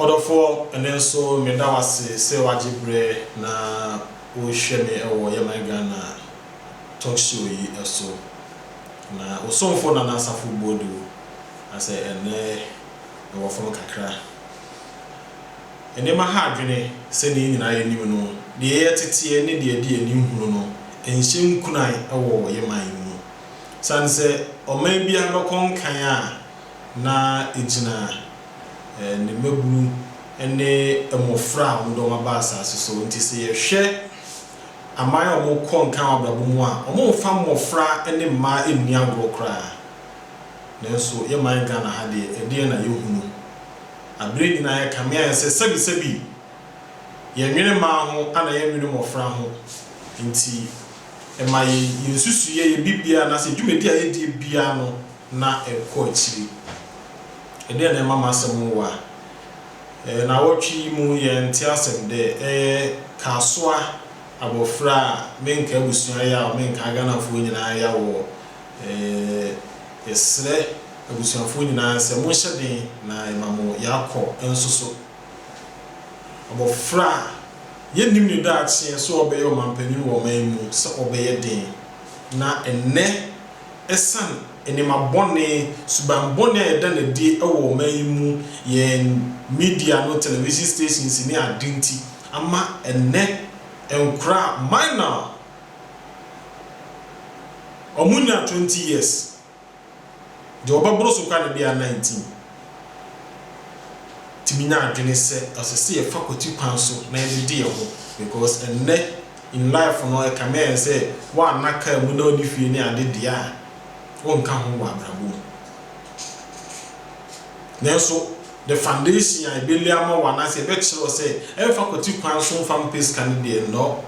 Ɔdɔfoɔ, ɛnnɛ nso meda wo ase sɛ woagye berɛ na worehwɛ me wɔ Yɛman Ghana Talk Show yi so. Na wo somfo Nana Asafo Boadu asɛ ɛnnɛ mewɔ fam kakra. Nneɛma ha adwene, sɛnea yɛn nyinaa nim no, deɛ ɛyɛ teteɛ ne deɛ ɛde ani hunu no, ɛnhyɛ nkuran wɔ yɛn man yi mu. Ɛsiane sɛ ɔman biara bɛkɔ nkan a na ɛgyina ne mmabunu ne mmɔfra a wɔde wɔn aba asase so nti, sɛ yɛhwɛ aman a wɔkɔ nkan wɔ abrabɔ mu a, wɔmfa mmɔfra ne mmaa nni agorɔ koraa. Nanso yɛn man Ghana ha deɛ, ɛdeɛn na yɛhunu? Aberɛ nyinaa yɛkame ayɛ sɛ sɛbisɛbi yɛnnwene mmaa ho ana yɛnnwene mmɔfra ho nti ɛma yɛn nsusuiɛ, yɛn biribiara anaasɛ yɛn dwumadi a yɛdie biara no na ɛkɔ akyiri. Ɛdeɛn na ɛma m'asɛm nwowa? Ɛyɛ nawɔtwe yi mu yɛn nte asɛm dɛ ɛyɛ Kasoa abɔfra a menka abusua yaw menka Ghanafoɔ nyinaa yaw wɔ yɛsrɛ Abusuafoɔ nyinaa sɛ monhyɛ den na yɛma mo yɛakɔ nso so. Abɔfra a yɛnnim ne daakyeɛ sɛ ɔbɛyɛ ɔmanpanin wɔ ɔman yi mu sɛ ɔbɛyɛ den na ɛnnɛ ɛsiane nneɛma bɔne, suban bɔne a yɛda no adi wɔ ɔman yi mu, yɛn media no, television stations ne ade nti ama ɛnnɛ nkwadaa minor a wɔnnya twenty years. Deɛ ɔbɛboro so koraa na ebi a na ntim. Tumi nya adwene sɛ ɔsɛ sɛ yɛfa kwati kwan so na yɛde de yɛn ho because ɛnnɛ in life no ɛkame ayɛ sɛ woanna car mu na wonni fie ne ade deɛ a wonka ho wɔ abrabɔ mu. Nanso the foundation a ɛbɛlay ama wo anaasɛ ɛbɛkyerɛ wo sɛ ɛmfa kwati kwan so mfa mpɛ sika no deɛ nnɔ.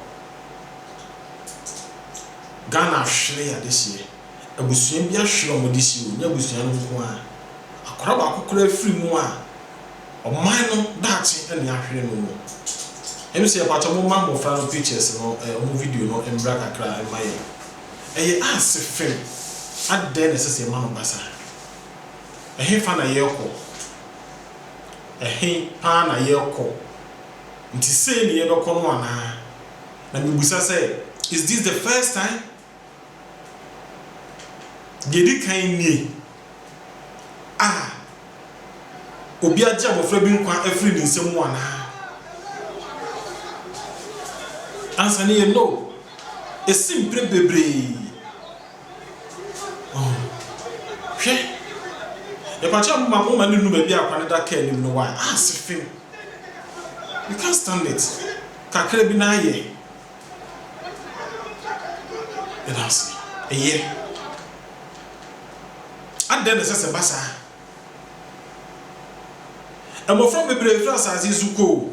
Ghana ahwere adehyeɛ. abusua bi ahwere a wɔde si hɔ, nyɛ abusua no nko ara. Akwadaa baako koraa firi mu a, ɔman no daakye na yɛahwere no wɔ. Ɛne sɛ mpakyɛ mo mma mmɔfra no pictures no, wɔn video no mmra kakra mma yɛn. Ɛyɛ ase fem, adɛn na ɛsɛ sɛ yɛma no ba saa? Ɛhefa na yɛrekɔ? Ɛhe paa na yɛrekɔ? Nti sei na yɛbɛkɔ no anaa? Na mebisa sɛ, is this the first time? Deɛ ɛdi kan nie, A obi agye abɔfra bi nkwa afiri ne nsa mu anaa? Ansa no yɛ No. Ɛsi mprɛ bebree. Ɔho. Hwɛ. Yɛpakyɛw mo ma mo mma no nnu baabi a akwa no da kaa anim no why? Ah, sefem. You can't stand it. Kakra bi na ayɛ. Yɛda wo ase. Eye. Adɛn na ɛsɛ sɛ ɛba saa? Mmofra bebree fi asase yi so kɔ o.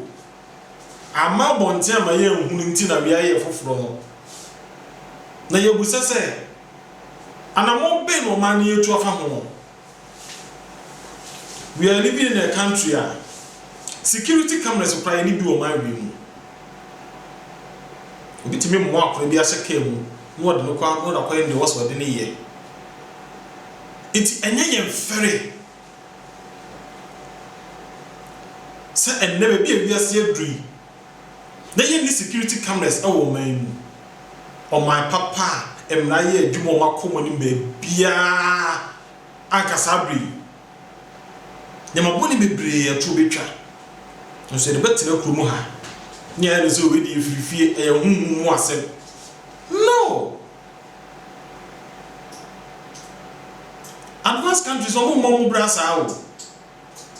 Amma abɔnten amma yɛanhunu nti na beae yɛ foforo no. Na yɛabisa sɛ, Anammɔn bɛn na ɔman no retu afa ho? We are living in a country a security cameras koraa yɛne bi wɔ man wei mu. Obi tumi mmoa akora bi ahyɛ kaa mu na wɔde no kɔ na wɔde akɔyɛ nea wɔsɛ wɔde no yɛ. Nti ɛnyɛ yɛn fɛre sɛ ɛnnɛ baabi a wiase aduru yi, Yɛyɛ new security cameras wɔ ɔman yi mu. Ɔman papa a mmara yɛ adwuma wɔn akɔm anim baabiara anka saa bere yi. Nneɛma bɔne bebree ɛtoɔ bɛtwa. Nanso yɛde bɛtena kuro mu ha. Nea ayɛ no sɛ wei deɛ ɛfiri fie, ɛyɛ honhom mu asɛm. No! Advanced countries wɔn mmɔ wɔn bra saa o.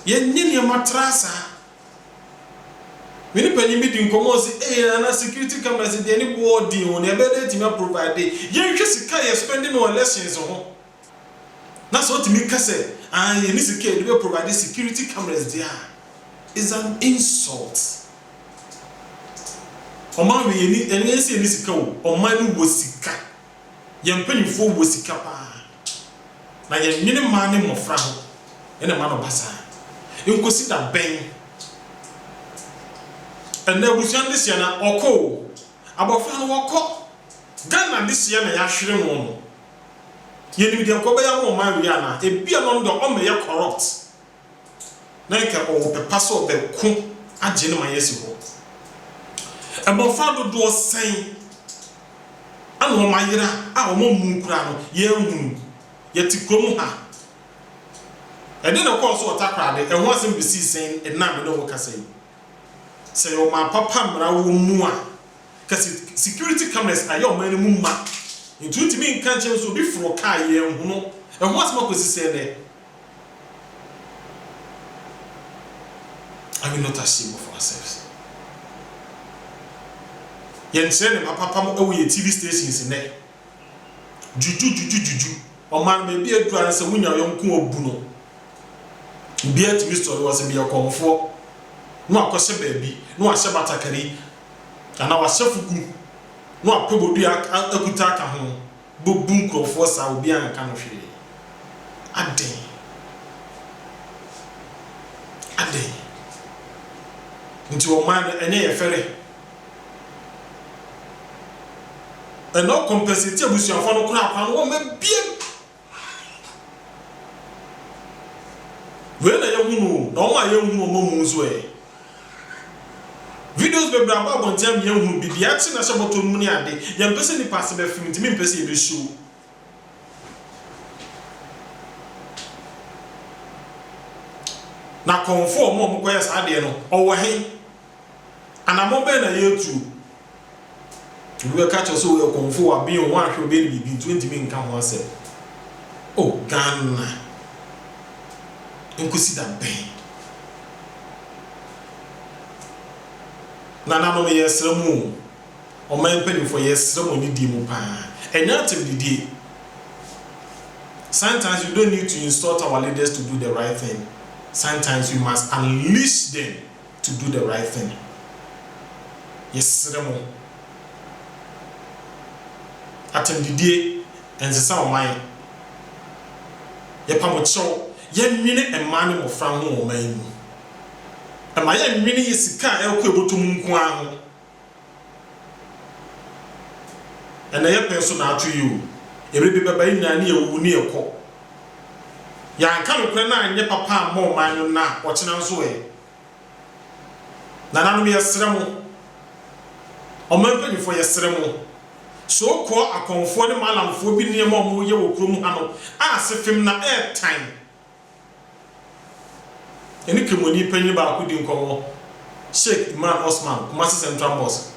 Yɛnyɛ nneɛma traa saa. Me ne panyin bi dii nkɔmmɔ, ɔse, Ei Nana, security cameras deɛ ne boɔ ɔden o, nea ɛbɛyɛ na yɛatumi aprovide, yɛnhwɛ sika a yɛ spend no wɔ elections ho, na sɛ ɔtumi ka sɛ, aane, yɛnni sika a yɛde bɛ provide security cameras deɛ a, it's an insult. Ɔman wei, yɛnni, ɛnyɛ sɛ yɛnni sika o, ɔman no wɔ sika, yɛn mpanyinfoɔ wɔ sika paa. na yɛnnwene mmaa ne mmofra ho na ɛma no ba saa. Nkosi da bɛn? Ɛnnɛ abusua no dehyeɛ na ɔkɔ o, abɔfra no ɔkɔ. Ghana dehyeɛ na yɛahwere no no, yɛnim deɛ nkɔbɛyɛ ama ɔman wei anaa? Ebia no no deɛ ɔmmɛyɛ corrupt na anka ɔwɔ pɛ pa sɛ ɔbɛko agye no ma yɛasi hɔ. Mmofra dodoɔ sɛn na wɔayera a wɔammu koraa no yɛahunu? Yɛte kurom ha. Ɛdeɛn na ɛkɔɔ so wɔ Takoradi? Ɛho asɛm besii sɛn ɛnnɛ a me ne wo kasa yi? Sɛ ɛyɛ ɔman papa mmara wɔ mu a, ka sɛ security cameras ayɛ ɔman no mu ma, nti wontumi nka nkyerɛ me sɛ obi foroo kaa yɛanhunu. Ɛho asɛm akɔsi sɛn nnɛ? Are we not ashamed of ourselves? Yɛn kyerɛ ne mapapam ɛwɔ yɛn TV stations nnɛ. Juju juju juju. Ɔman no baabi aduru ara sɛ wonya yɔnko obu no. Obiara tumi sɔre wɔ sɛ meyɛ kɔmfoɔ. Na wakɔhyɛ baabi, na wahyɛ batakari, anaa wahyɛ fugu, na wapɛ bodua akuta aka ho. bobu nkurɔfoɔ saa obiara nka no hwee adɛn adɛn nti ɔman no ɛnyɛ yɛ fɛrɛ ɛna ɔkɔmpɛsɛti abusuafoɔ no koraa kwan wɔ ma biam wei na yɛhunu o na wɔn a yɛnhunu wɔn mu nso ɛ. Videos bebree aba abɔnten ama yɛahunu bi, deɛ ɛte na ɛhyɛ bɔtɔ no mu ne ade. Yɛmpɛ sɛ nnipa ase bɛfem nti mempɛ sɛ yɛbɛ show. Na kɔmfoɔ ɔmo a ɔmo kɔyɛ saa adeɛ no ɔwɔ he? Anamɔn bɛn na yɛretuo? Obi bɛka kyerɛ sɛ woyɛ kɔmfo wɔ aben o, woanhwɛ obi ani biribi nti wontumi nka ho asɛm. O Ghana, nkosi da bɛn? Nananom yɛsrɛ mo o, ɔman mpanyimfoɔ yɛsrɛ mo anidie mu paa, ɛnyɛ atemdidie. Sometimes you don't need to insult our leaders to do the right thing, sometimes you must unleash them to do the right thing. Yɛsrɛ mo, atɛmdidie ɛnsesa ɔman. Yɛpa mo kyɛw, yɛnnwene mmaa ne mmɔfra ho wɔ ɔman yi mu. Ɛma yɛnnwene yɛ sika a ɛrekɔ ɛbɔtɔ mu nko ara ho. Ɛna yɛ pɛ nso naatwe yi o Ɛbere bi bɛba yɛ nyinaa ne yɛ wuwu ne yɛ kɔ Yɛ anka nokorɛ na anyɛ papa ammɔ ɔman no nnɛ a ɔkyena nso ɛ Nananom yɛ srɛ mo Ɔman mpanyinfoɔ yɛ srɛ mo So kɔɔ akɔnfoɔ ne malamfoɔ bi nneɛma ɔmo yɛ wɔ kurom ha no a sefem na ɛɛtan Yɛne Kemoni panyin baako di nkɔmmɔ, Sheikh Imran Osman, Kumasi Central Mosque.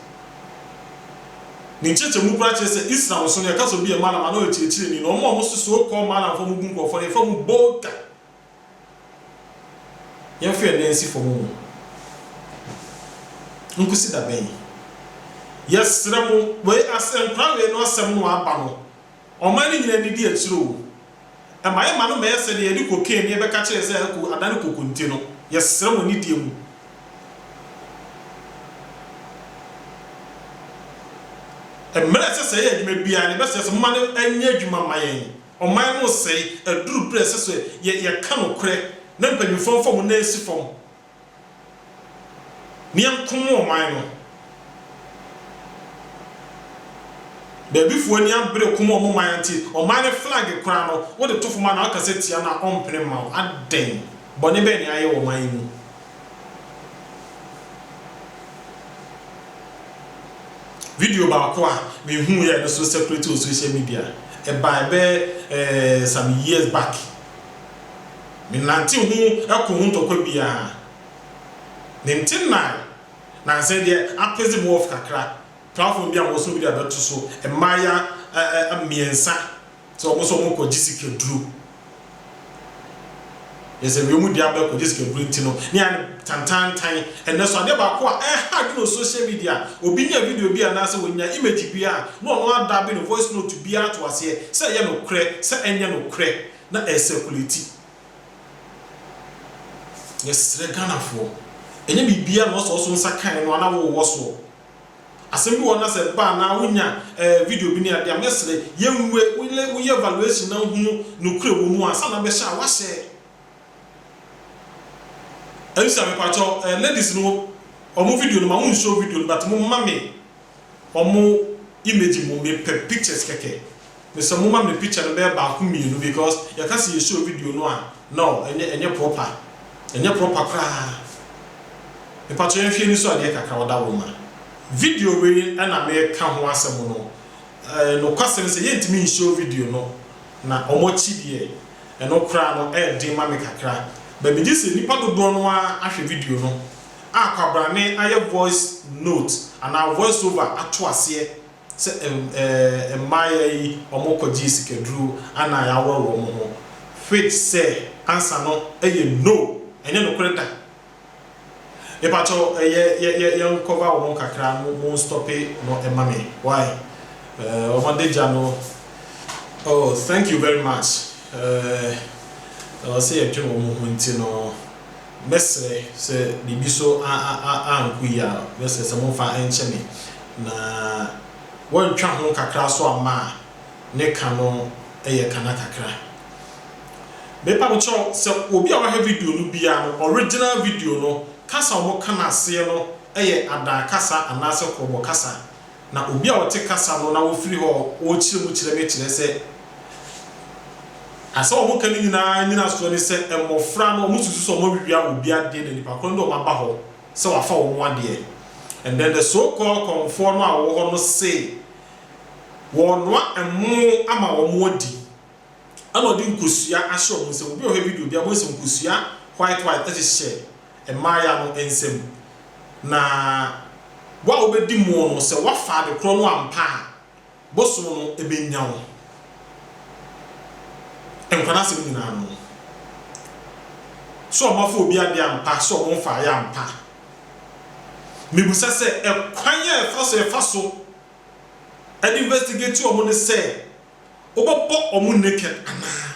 Ne nkyerɛkyerɛmu koraa kyerɛ sɛ Islam so no, yɛka sɛ obi yɛ Mallam a, na ɔyɛ ɔkyerɛkyerɛni, na wɔn a wɔso so called Mallamfoɔ a wɔbu nkurɔfoɔ no, yɛfrɛ wɔn Bolta. Yɛmfa yɛn nan nsi fam mu. Nkosi da bɛn? Yɛsrɛ mo, wei as nkora wei no asɛm no aba no, Ɔman no nyina anidi akyire o. Ɛma yɛ ma no mmɛyɛ sɛ deɛ yɛde cocaine ne yɛbɛka kyerɛ yɛ sɛ ɛko adane kokonte no. Yɛsrɛ mo anidie mu. Mmerɛ ɛsɛ sɛ yɛyɛ adwuma biara no yɛbɛsrɛ sɛ momma no nyɛ adwuma mma yɛn. Ɔman no resɛe. Aduru berɛ a ɛsɛ sɛ yɛ yɛka nokorɛ na mpanyinfoɔ mfa wɔn nan nsi fam. Meɛnko mo ɔman no. Baabi foɔ ani abere ko ma ɔmo man nti ɔman no flag koraa no wode to fom a na waka sɛ tia no a ɔmpene mma wo adɛn? Bɔne bɛn na yɛayɛ wɔ ɔman yi mu? Video baako a me hu yɛ a ɛno nso circulate wɔ social media ɛbae bɛyɛ some years back. Menante hu ko ho ntɔkwa biara. Ne nte nnae, na nsɛ deɛ apeze me wɔf kakra. Platform bi a wɔso video abɛto so, mmaaya ɛ-ɛ-ɛ mmiɛnsa sɛ wɔn nso wɔn kɔ gye sikaduro. Yɛ sɛ wiem dua bɛkɔ gye sikaduro nti no, ne yɛ tantantan. Ɛnɛ so adeɛ baako a ɛha adwene wɔ social media, obi nya video bi anaa sɛ wɔnya image bi a, na wɔn ada be no voice note biara to aseɛ sɛ ɛyɛ nokorɛ, sɛ ɛnyɛ nokorɛ. na ɛresakulati. Yɛsrɛ Ghanafoɔ, ɛnyɛ biribiara na wɔsɔ wo so nsa kan no ara na wowɔ soɔ. Asɛm bi wɔ hɔ na sɛ ɛba anaa wonya ɛɛ video bi ne adeɛ a, mɛsrɛ yɛnwura mu, woyɛ woyɛ evaluation na wohunu nokorɛ wɔ mu ansa na wobɛhyɛ a woahyɛ. Elisa mepakyɛw, ɛɛ ladies no wɔn video no ma wonshow video no but momma me. Ɔmo image mu me pɛ pictures kɛkɛ me sɛ mo ma me picture no bɛyɛ baako mmienu because yɛ ka sɛ yɛ show video no a nɔɔ ɛnyɛ ɛnyɛ proper ɛnyɛ proper koraa mpakyɛw yɛn hwɛ ani so adeɛ kakra ɔda wo ma. Video wei na me ka ho asɛm no ɛɛ nokwasɛm sɛ yɛ ntumi nhyɛw video no na ɔmo akyi deɛ ɛno koraa no ɛɛden ma me kakra but me gye sɛ nipa dodoɔ no ara ahwɛ video no. a kwabrane ayɛ voice note anaa voice over ato aseɛ sɛ ɛɛ mmayewa yi wɔkɔgyee sikaduro anaa yɛaworɔ wɔn ho which sɛ answer no yɛ no ɛnyɛ nokorɛ da. Mepakyɛw yɛ yɛ yɛ yɛn cover wɔn kakra mo mo nstope no ma me why ɛɛ wɔn adagya no oh thank you very much ɛɛ ɛwɔ sɛ yɛdwen wɔn ho nti no. Mɛsrɛ sɛ biribi so ankɔ yie a, mɛsrɛ sɛ momfa nkyɛ me, na wɔantwa ho kakra so amma a, ne ka no yɛ kana kakra. Mepa mo kyɛw sɛ obi a wahwɛ video no biara no, original video no, kasa a wɔka no aseɛ no yɛ Adaa kasa anaasɛ Krɔbɔ kasa. na obi a ɔte kasa no na ɔfiri hɔ ɔrekyerɛ mu kyerɛ me kyerɛ sɛ asɛm a wɔka no nyinaa nyinasoɔ ne sɛ mmɔfra no wɔsusu sɛ wɔawia obi adeɛ na nipa korɔ no de wɔaba hɔ sɛ wafa wɔn adeɛ and then the so called kɔmfoɔ no a wɔwɔ hɔ no se wɔrenoa ɛmo ama wɔn adi. ɛna ɔde nkosua ahyɛ wɔn nsam. Obi a ɔhwɛ video biara behu sɛ nkosua white white hyehyɛ mmayewa no nsam. Na wo a wobedi mu no, sɛ woafa ade korɔ no ampa a, bosom no benya wo. Nkwa no asɛm nyinaa no, sɛ wɔafa obi ade ampa, sɛ wɔmfaeɛ ampa, mebisa sɛ, ɛkwan a ɛfa so ɛfa so de investigate wɔn ne sɛ Wobɛbɔ wɔn naked anaa?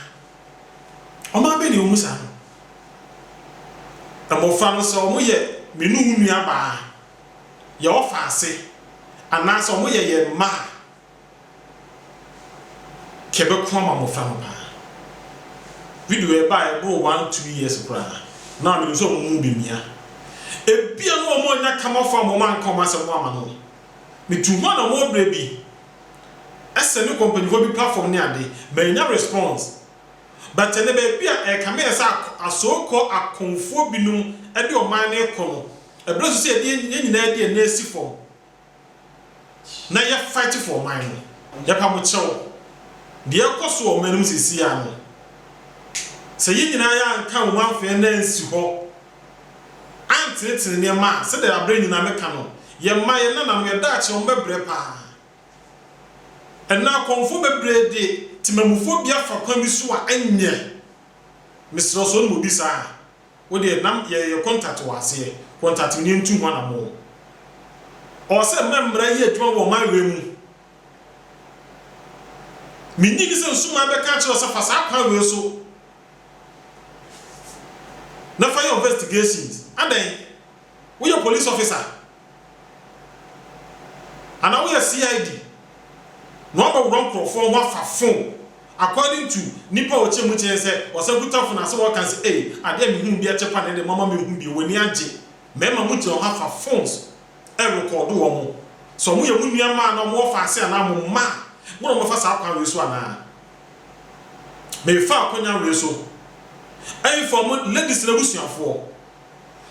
Ɔman bɛn na ɛwɔ mu saa no? Mmofra no, sɛ wɔyɛ me ne wo nuabaa a, yɛn ɔfa ase, anaasɛ wɔyɛ yɛn mma a, nka ɛbɛko ama mmofra no paa. Video a ɛbae ɛboro one, two years koraa, na menim sɛ wɔn mu bi mmea, ebia na wɔanya kamafo a wɔanka wɔn asɛm no amma no. Mitu hɔ na wɔn berɛ bi Ɛsɛ me kɔ mpanyinfoɔ bi platform ne ade, mannya response. But ɛnɛ baabi a ɛrekame yɛ sɛ asookɔ akɔmfoɔ binom de ɔman no rekɔ no, ɛberɛ so sɛ yɛde yɛn nyinaa de yɛn nan si fam na yɛ fight for ɔman no. Yɛpa mo kyɛw, deɛ ɛrekɔ so wɔ ɔman no mu seesei ara no, sɛ yɛn nyinaa yɛanka ho amfa yɛn nan ansi hɔ antsenetsen nneɛma a, sɛdeɛ aberɛ nyinaa meka no, yɛn mma, yɛn nananom, yɛn daakye, wɔn bɛbrɛ pa ara. Ɛnnɛ akɔmfoɔ bebree de temamufobea fa kwan bi so a, ɛnyɛ. Mesrɛ wo, sɛ wonim obi saa a, wo deɛ na yɛ yɛ contact wo aseɛ, contact me na yɛntu ho anammɔn. Ɔwɔ sɛ mma mmara yɛ adwuma wɔ ɔman wei mu. Mennye nni sɛ nsumaa bɛka akyerɛ wo sɛ fa saa kwan wei so. na fa yɛ ɔvɛstigations adɛn woyɛ police officer anaa woyɛ CID na wabɛ worɔ nkorɔfoɔ ho afa phone according to nipa a ɔkyɛ mu kyɛɛ sɛ ɔsɛ kuta phone asɛ wɔka sɛ ei adeɛ a me hunu bi ɛkyɛ pa nɛdɛ mama me hu bi wani agye mɛma mo gyina hɔ afa phones ɛrekɔɔdo wɔn sɛ ɔmo yɛ mo nua maa na ɔmo wɔ faase anaa mo mma mo na ɔmo bɛfa saa kwan wei so anaa Merefa akonya were so inform ladies no abusuafoɔ.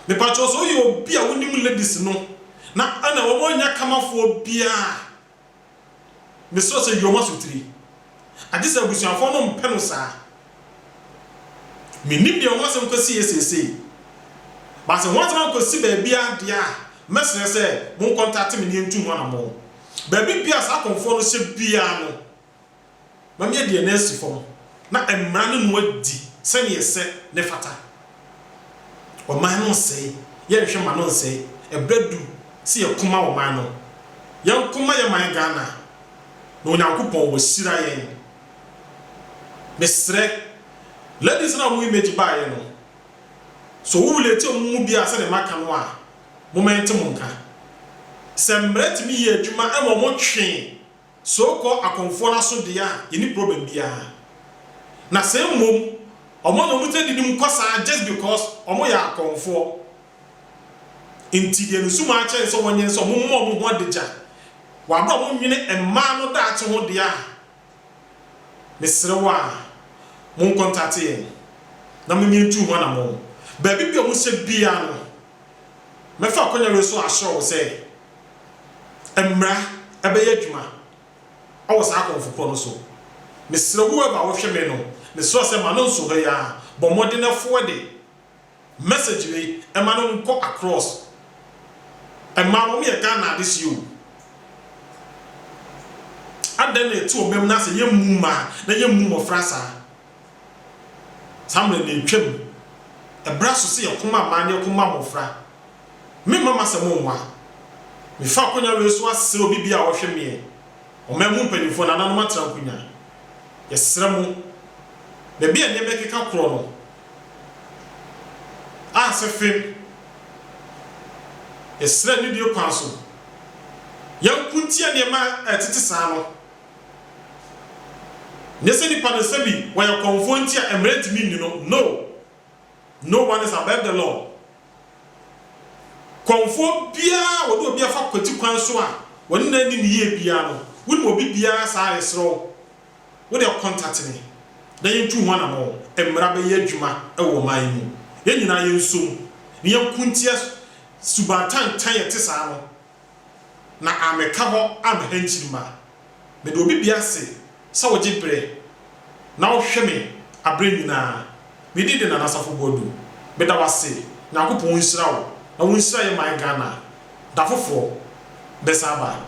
Mepakyɛw sɛ woyɛ obi a wonim ladies no na ɛna wɔnyɛ kamafoɔ biara a, mesrɛ sɛ yi wɔn asotiri. Agye sɛ abusuafoɔ no mpɛ no saa. Mennim deɛ ho asɛm kɔsiiɛ seesei. But sɛ ho asɛm ankɔsi baabiara deɛ a, mɛsrɛ sɛ monkɔntate me na yɛntu ho anammɔn. Baabi biara a saa akɔmfoɔ no hyɛ biara no, ma me adi anansi fam, na mmara no mu adi sɛnea ɛsɛ na ɛfata. Ɔman no nsɛe, yɛnhwɛ mma no nsɛe, ɛberɛ adu sɛ yɛko ma ɔman no. Yɛnko ma yɛn man Ghana, na Onyankopɔn wahyira yɛn. Mesrɛ, ladies no a wɔn image baeɛ no, sɛ wo relate wɔn mu biara sɛdeɛ maka no a, momma yɛnte mo nka. Sɛ mmara tumi yɛ adwuma ma wɔtwe So kɔ akɔmfoɔ no aso deɛ a yɛnni problem biara na sɛ mmom ɔmo na ɔmo gyina didi mu kɔ saa just because ɔmo yɛ akɔmfoɔ nti deɛ ne sumaa kyɛn ne sɛ wɔnyɛ ne sɛ ɔmo mma ɔmo ho adagya wɔ abere a ɔmo nwene mmaa no daakye ho deɛ a mesrɛ wo a mo nkɔntate yɛn na mo nyɛ ntu ho anamɔn baabi bi a ɔmo hyɛ biara no Mɛfa akwannya no so asrɛ wo sɛ mmra bɛyɛ adwuma wɔ saa akɔmfo korɔ no so. Mesrɛ wo whoever wohwɛ me no, mesrɛ wo sɛ ma no nso hɔ yi ara, bɔ mmɔden forward message wei ma no nkɔ across. Mmaa no, wɔn yɛ Ghana adesoɛ o. Adɛn na ɛte wɔn mma mu na sɛ yɛmmu mmaa na yɛmmu mmɔfra saa? Saa mmerɛ no ntwam. Ɛberɛ aso sɛ yɛko ma mmaa ne yɛko ma mmɔfra. Me mma m'asɛm mmoa. Mefa akonnwa wei so asrɛ obi biara a ɔhwɛ meɛ, ɔman mu mpanimfoɔ, nananom atra nkonya. Yɛsrɛ mo, baabi a nneɛma ɛkeka korɔ no, a sɛ fem, yɛsrɛ anidie kwan so, yɛnko ntia nneɛma a ɛtete saa no. Nyɛ sɛ nipa no sɛbi wɔyɛ kɔmfoɔ nti a mmara ntumi nni no no no one is above the law kɔmfoɔ biara a wɔde obi afa kwati kwan so a wɔne no anni no yie biara no wonim obi biara saa a yɛsrɛ wo wo deɛ contact me na yɛntu ho anamɔn mmara bɛyɛ adwuma wɔ ɔman yi mu yɛn nyinaa yɛnsom na yɛnko ntia suban tantan a ɛte saa no na ammɛka hɔ amma hɛnkyirima. Meda obi bia ase sɛ wogye berɛ na wohwɛ me aberɛ nyina ara. Me din de Nana Asafo Boadu. Meda wo ase. Nyankopɔn nhyira wo na wonhyira yɛ man Ghana. Da foforɔ bɛsan aba.